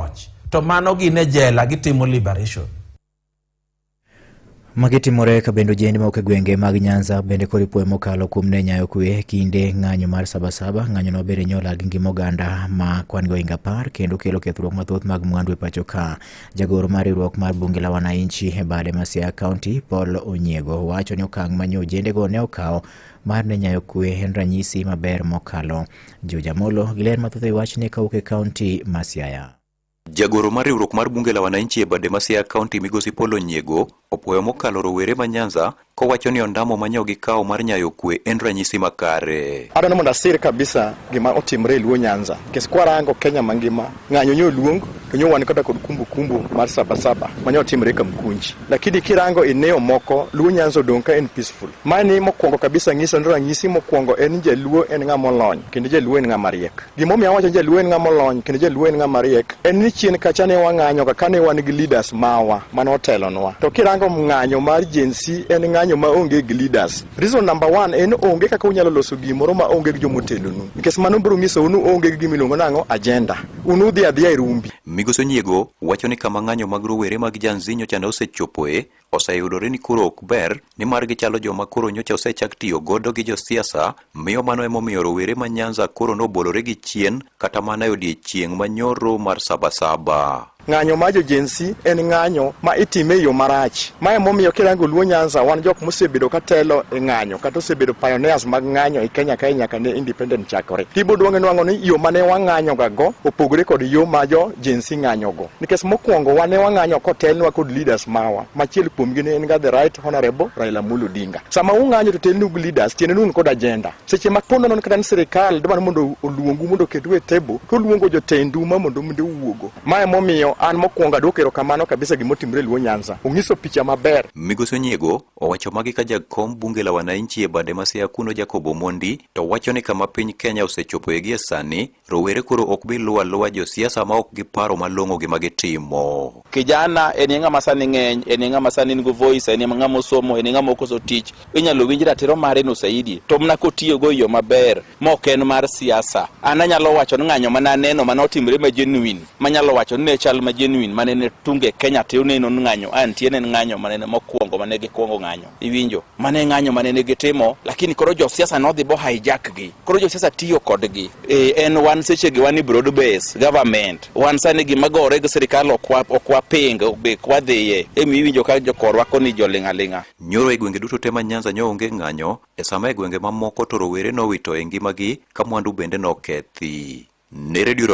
loch to mano gin e jela gitimo liberation Magi timore ka bende ojende mawuok e gwenge mag Nyanza bende koro ipuoyo mokalo kuom ne nyayo kwe kinde ng'anyo mar Sabasaba. Ng'anyono obedo e nyola gi ngima oganda ma kwan gi ohinga apar kendo kelo kethruok mathoth mag mwandu e pacho ka. Jagoro mar riwruok mar bunge la wananchi e bade ma Siaya County Paul Onyiego wacho ni okang' ma nyo ojendego ne okawo mar ne nyayo kwe en ranyisi maber mokalo. Juja Molo gi ler mathoth e wachni kawuok e kaunti ma Siaya. Jagoro mar riwruok mar bunge la wananchi e bade ma Siaya kaunti migosi Polo Nyiego opwoyo mokalo rowere ma Nyanza kowacho ni ondamo ma nyogi kawo mar nyayo kwe en ranyisi makare. Adwaro ni mondo asir kabisa gima otimre e Luo Nyanza. Nikech kwarango Kenya mangima Ng'anyo nyo luong to nyo wan kata kod kumbu kumbu mar saba saba ma nyo timre ka Mkunji, lakini kirango eneo moko Luo Nyanza odong' ka en peaceful. Mani mokwongo kabisa ng'iso ni ranyisi mokwongo en ni Jaluo en ng'a molony kendo Jaluo en ng'a mariek. Gimomiyo awacho ni Jaluo en ng'a molony kendo Jaluo en ng'a mariek en ni chien kacha ne wang'anyo ka kane wan gi leaders mawa mane otelonwa. To kirango ng'anyo mar Gen Z en ng'anyo ma onge gi leaders. Reason number one en onge kaka unyalo loso gimoro ma onge gi jomotelonu. Nikech mano biro nyisou ni onge gi gima iluongo nang'o agenda. Un udhi adhiya e rumbi. Migoso Nyiego wacho ni kama ng'anyo mag rowere mag Janzi nyocha ne osechopoe oseyudore ni koro ok ber nimar gichalo joma koro nyocha osechak tiyo godo gi josiasa miyo mano emomiyo rowere ma Nyanza koro nobolore gi chien kata mana e odiechieng' manyoro mar Sabasaba. Ng'anyo ma jo Gen Z en ng'anyo ma itime e yo marach. Ma emomiyo kirango Luo Nyanza wan jok mosebedo ka telo e ng'anyo kata osebedo pioneers mag ng'anyo e Kenya kae nyaka ne independent chakore. Tiboduonge nwang'o ni yo ma ne wang'anyoga go opogore kod yo ma jo Gen Z ng'anyogo. Nikech mokwongo wan ne wang'anyo kotelnwa kod leaders mawa. Machiel kuomgi ne en ga the right honorable Raila Amolo Odinga. Sama ung'anyo to telnu gi leaders tiende ni un kod agenda. seche ma koro nono kata ni sirikal dwaro mondo oluongu mondo oketu e table to oluongo jotendu ma mondo minde uwuogo ma emomiyo an mokwongo adwoko erokamano kabisa gima otimre Luo Nyanza onyiso picha maber Migosi Onyiego owacho magi ka jakom bunge la wananchi e bade ma Siaya kuno Jacob Omondi to wacho ni kama piny Kenya osechopoe gie sani Rowere koro ok bi luwo aluwa josiasa ma ok giparo malong'o gima gitimo. Kijana en ng'ama sani ng'eny, en ng'ama sani nigi voice, en ng'ama osomo, en ng'ama okoso tich. Inyalo winj ratiro mare no saidi, to mna kotiyogo e yo maber, mok en mar siasa. An anyalo wacho ni ng'anyo mana aneno mana otimre ma genuine, manyalo wacho ni ne chal ma genuine, manene tunge Kenya te oneno ng'anyo, antie ne ng'anyo manene mokwongo mane gikwongo ng'anyo. iwinjo mane ng'anyo mane ne gitimo lakini koro josiasa nodhi bo hijack gi koro josiasa tiyo kodgi e, en wan seche gi wan broad base government wan sani gima gore gi sirikal okwa ping be kwa dhiye emi iwinjo ka jokorwa koni joling' aling'a nyoro e gwenge duto te ma nyanza nyo onge ng'anyo e sama e gwenge mamoko to rowere nowito e ngimagi ka mwandu bende nokethi ne redio